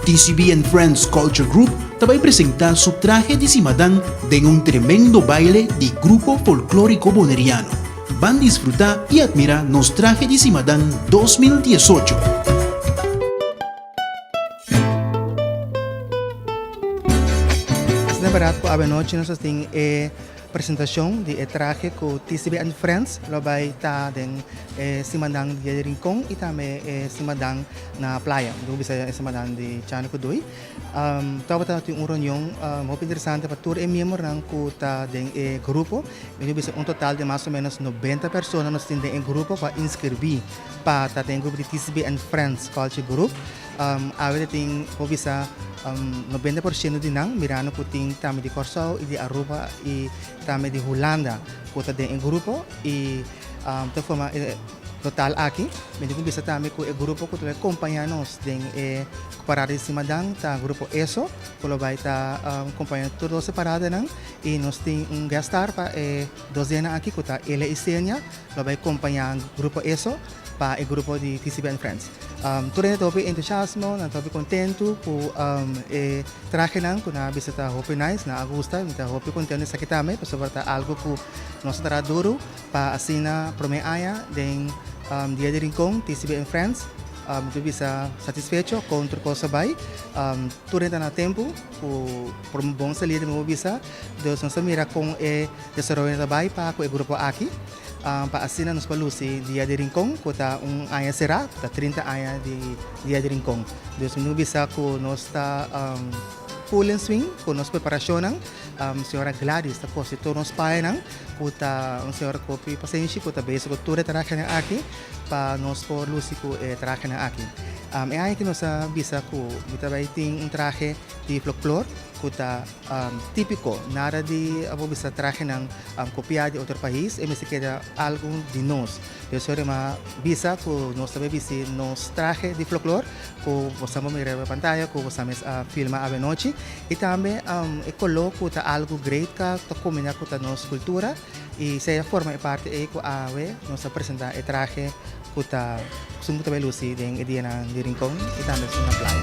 TCB and Friends Culture Group ta bai presenta su trahe di si madan den un tremendo baile di Grupo Folklorico Boneriano. Ban disfruta y admira nos trahe di si madan dos mil diesocho. Presentacion di e trahe cu TCB and Friends lo bay ta den e simannan Dia di Rincon y tambe e simannan na playa. Dun bisa e simannan di Chani cu Dui. Tabata tin un reunion hopi interesante pa tur e miembernan cu ta den e grupo. Mi dun bisa un total di mas o menos noventa persona nos tin den e grupo cu a inscirbi pa ta den e grupo di TCB and Friends Culture Group. Awe ta tin por bisa nobenta por ciento di nan mirando cu tin tambe di Corsou y di Aruba y tambe di Hulanda cu ta den e grupo y ta forma e total aki. Bende tin bisa tambe cu e grupo cu ta bay compania nos den e parada di simadan ta grupo ESO cu lo bay ta compania nos tur doce paradanan y nos tin un guest star pa e dos dena aki cu ta Elia y Senia lo bay compania grupo ESO. pa e grupo di TCB and Friends. Tur hende ta hopi entusiasmo, nan ta hopi kontentu ku e trahenan ku nan a bista ta hopi nice, nan a gusta. Mi ta hopi kontentu di esaki tambe pasobra ta algu ku nos a traha duru pa asina promé aña den Dia di Rincon TCB and Friends. Mi ta bisa satisfecho kon tur kos a bai. Tur hende ta na tempu ku bon salida mi bo bisa. Dus nos ta mira kon e desaroyonan ta bai pa ku e grupo aki. pa asina nos por luci Dia di Rincon cu ta un aña sera, ta trinta aña di Dia di Rincon. Dus mi no bisa cu nos ta full en swing cu nos preparacionnan. Señora Gladys ta cosi tur nos payanan cu ta un señora cu hopi pasenshi cu ta bezig cu tur e trahanan aki pa nos por luci cu e trahanan aki. E aña aki nos a bisa cu mi ta bay tin un trahe di floclor cu ta. Típiko, nada di abo bisa trahenan kopiá di otro pais, e mester keda algu di nos. P'esei Rema bisa ku nos ta bai bisti nos trahe di floklor, ku bosan por mira riba pantaya, ku bosan mes a filma avenochi, i tambe e koló ku ta algu great ka ta kombiná ku ta nos kultura, i seya forma e parti ei ku awe nos ta presentá e trahe. ku ta kustumbrá ta bai lusi den e dianan di Rincon i tambe esun na playa.